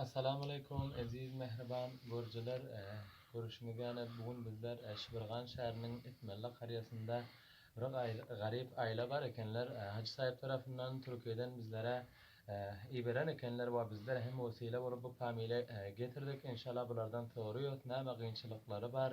Assalamualeýkum eziz mähriban görüjiler görüşiňiz ýaly bu gün bizler Şibirgan şäheriniň Itmalla karýasynda bir garyp aýla bar ekenler Hajy saýyp tarapyndan Türkiýeden bizlere iberen ekenler we bizler hem wesile bolup bu pamile getirdik inşallah bulardan soruýas näme gynçylyklary bar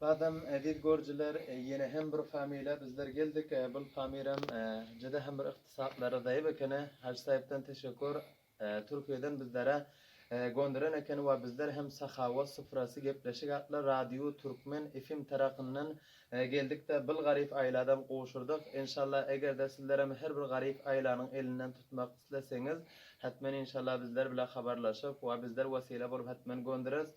Badam Eziz görjiler ýene hem bir familýa bizler geldik bul famiram juda hem bir ykdysatlary zaýap ekeni Hajy Saýypdan teşekur Türkiýeden bizlere gondiren ekeni we bizler hem Sahawat sufrasy gepleşik atly radio Türkmen FM tarapyndan geldikde bil garyp aýladam gowşurdyk enşalla egerde sizlerem her bir garyp aýlanyň elinden tutmak isleseňiz hetmen enşalla bizler bile habarlaşyp we bizler wesile bolup hetmen gondires